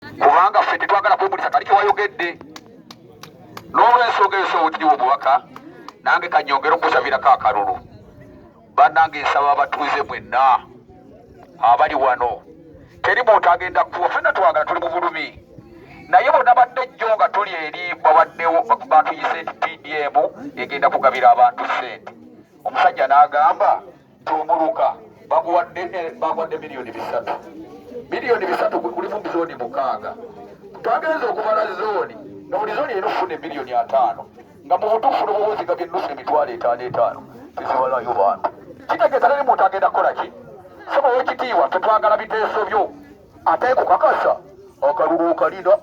kubanga ffe tetwagala kwemulisa kali kyewayogedde n'olwensonga eyo sowotiriwo omubaka nange kanyongere okusabirako akalulu banange nsaba abatuuze mwenna abali wano teri muntu agenda kuwa fena twagala tuli mu bulumi naye bona badde jjo nga tuli eri babaddewo batuyise nti pdm egenda kugabira abantu sente omusajja n'agamba Tumuruka baguwadde eh, baguwadde miliyoni bisatu miliyoni bisatu kulimu zooni mukaaga twagenza okubala zooni nga buli zooni erina okufuna emiliyoni ataano nga mu butuufu n'obubuziga byennusu emitwalo etaano etaano tezibalayo bantu kitegeeza teri muntu agenda kukola ki saba wekitiibwa tetwagala biteeso byo ate kukakasa akalulu okalina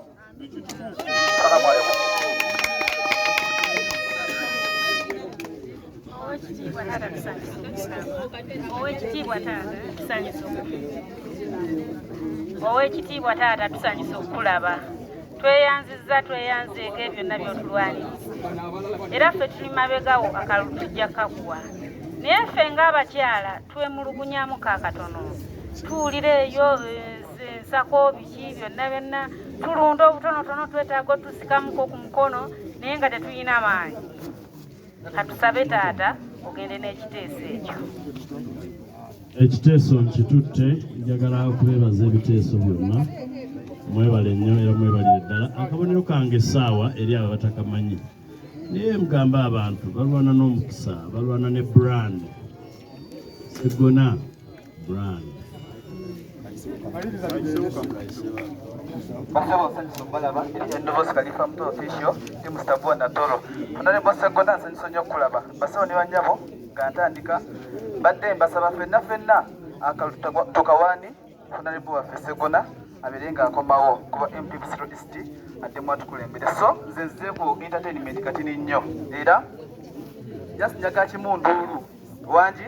Owekitiibwa taata tusanyusa okukulaba tweyanzizza tweyanzeeko ebyo byonna byotulwaniriza era ffe tuli mabegawo akalulu tujja kakuwa naye ffe ng'abakyala twemulugunyamu kakatono tuwulira eyo eh, ensako biki byonna byonna tulunda obutonotono twetaaga otusikamuko ku mukono naye nga tetulina maanyi katusabe taata ogende n'ekiteeso ekyo ekiteeso nkitutte njagala okubeebaza ebiteeso byonna mwebale nnyo era mwebalire ddala akabonero kange essaawa eri abo batakamanyi naye mugamba abantu balwana n'omukisa balwana ne brand segona brand basaba osanyiso balaba endobozi kalifa muto official ndi mustabua natoro onale bosegona nsanyiso nyo okulaba basaba ne banyabo nga ntandika badde mbasaba fenna fenna akalu tukawani onale bo waffe segona abeere nga akomawo kuba mp busiro east addemu atukulembere so nze nzeku entertainment katini nnyo era just njaga kimu nduulu wangi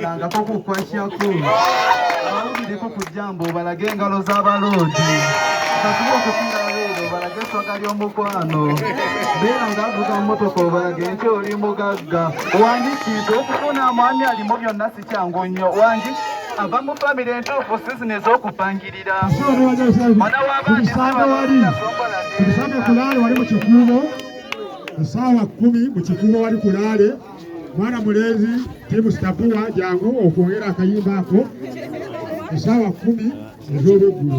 obalangako ku kwasyaku abawulireko ku jjambo obalage engalo z'abaloodi katuba okusinga abeera obalage eswaga ly'omukwano beera ng'avuga mmotoka obalage nti oli mugagga wangi kintu okufuna mwami alimu byonna si kyangu nnyo wangi ava mu famire entuufu sizini ez'okupangirira mwana w'abaana Essaawa kkumi mu kifuba wali kulaale mwana mulenzi tiimu sitapuwa jangu okwongera akayimba ako essaawa kkumi ez'olweggulo